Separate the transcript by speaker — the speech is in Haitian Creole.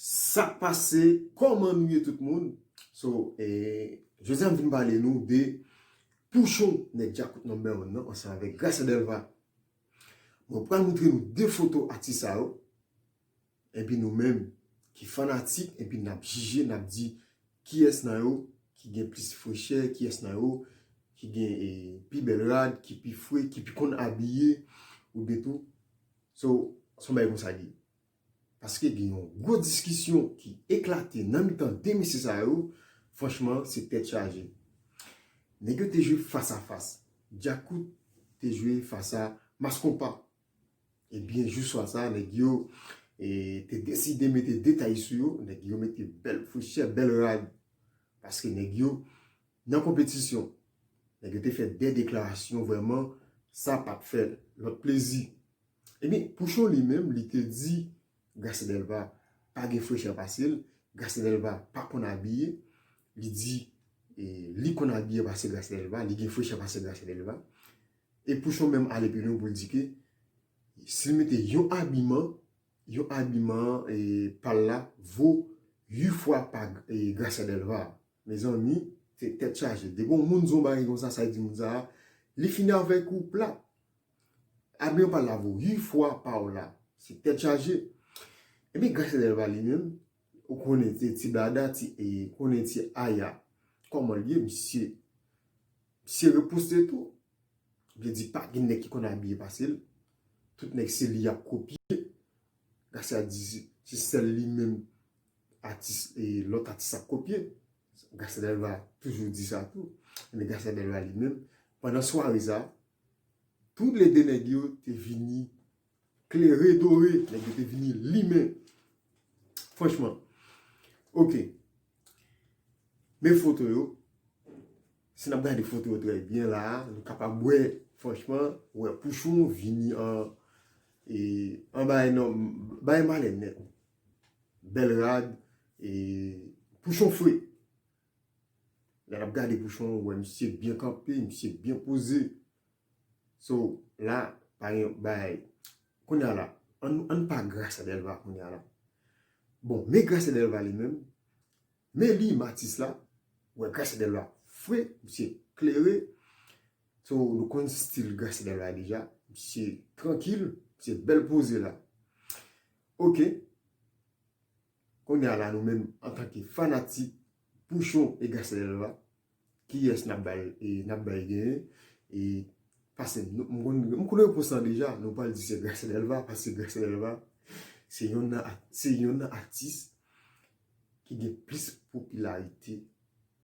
Speaker 1: Sak pase koman nou ye tout moun so jodi a m vin pale nou de pouchon nèg djakout number one nan ansanm avèk gracia delva mwen pral moutre nou 2 foto atis sa yo epi nou menm ki fanatik epi nap jije nap di kiyès nan yo ki gen plis frechè kiyès nan yo ki gen pi bèl rad ki pi fre ki pi konn abiye ou de tou so son bagay konsa li ye. Paske gen yon gwo diskisyon ki eklate nan mitan 2 mesye sa yo, franchman se tèt chaje. Nèg yo te jwe fas a fas. Djakout te jwe fas a Mass Konpa. Ebyen jou swa sa nèg yo te deside mete detay sou yo, nèg yo mete bèl fouchè, bèl rad. Paske nèg yo nan konpetisyon. Nèg yo te fè 2 deklarasyon vrèman sa pat fè lòt plezi. Ebyen Pouchon li menm li te di Garcia Delva pa gen frechè pase l, Garcia Delva pa konn abiye, li di li konn abiye pase Garcia Delva, li gen frechè pase Garcia Delva. E Pouchon menm ale pi lwen pou l di ke si l mete yon abiman, yon abiman pa l la vo 8 fwa pa Garcia Delva. Mezanmi, se tèt chaje. Depi yon moun di yon bagay konsa, sa l di moun sa a, li fini avèk ou plat. Abby ou pa lavo ui fwa paw la se tèt chaje epi Gracia Delva li menm ou konnen ti blada ti konnen ti aya kòmanl ye misye misye reposte tou vle di pa gen nèg ki konn abiye pase l tout nèg se li yap kopye Gracia di se sèl li menm atis lòt atis ap kopye Gracia Delva toujou di sa tou epi Gracia Delva li menm pandan sware sa Tou le 2 nèg yo te vini klere dore, nèg yo te vini limen. Franchman. Ok. Men foto yo. Si nap gade foto yo trè byen la, nou kapab wè, franchman, wè Pouchon vini an e an bay nan bay malè nèt. Bèl rad e Pouchon fre. Lè nap gade bouchon ou wè misye byen kanpe, misye byen poze. So la pa gen bay. Kounya la, ann pa Gracia Delva kounya la. Bon, me Gracia Delva li menm, me li matis la, wè Gracia Delva fre, misye klere. So nou konn stil Gracia Delva deja, misye trankil, misye bel poze la. Ok, Kounye a la nou menm antanke fanatik Pouchon e Gacelva kiyès nap bay nap bay genyen e pase m konnen repons lan deja nou pral di se Gacelva paske Gacelva se yonn nan se yonn nan atis ki gen plis popilarite.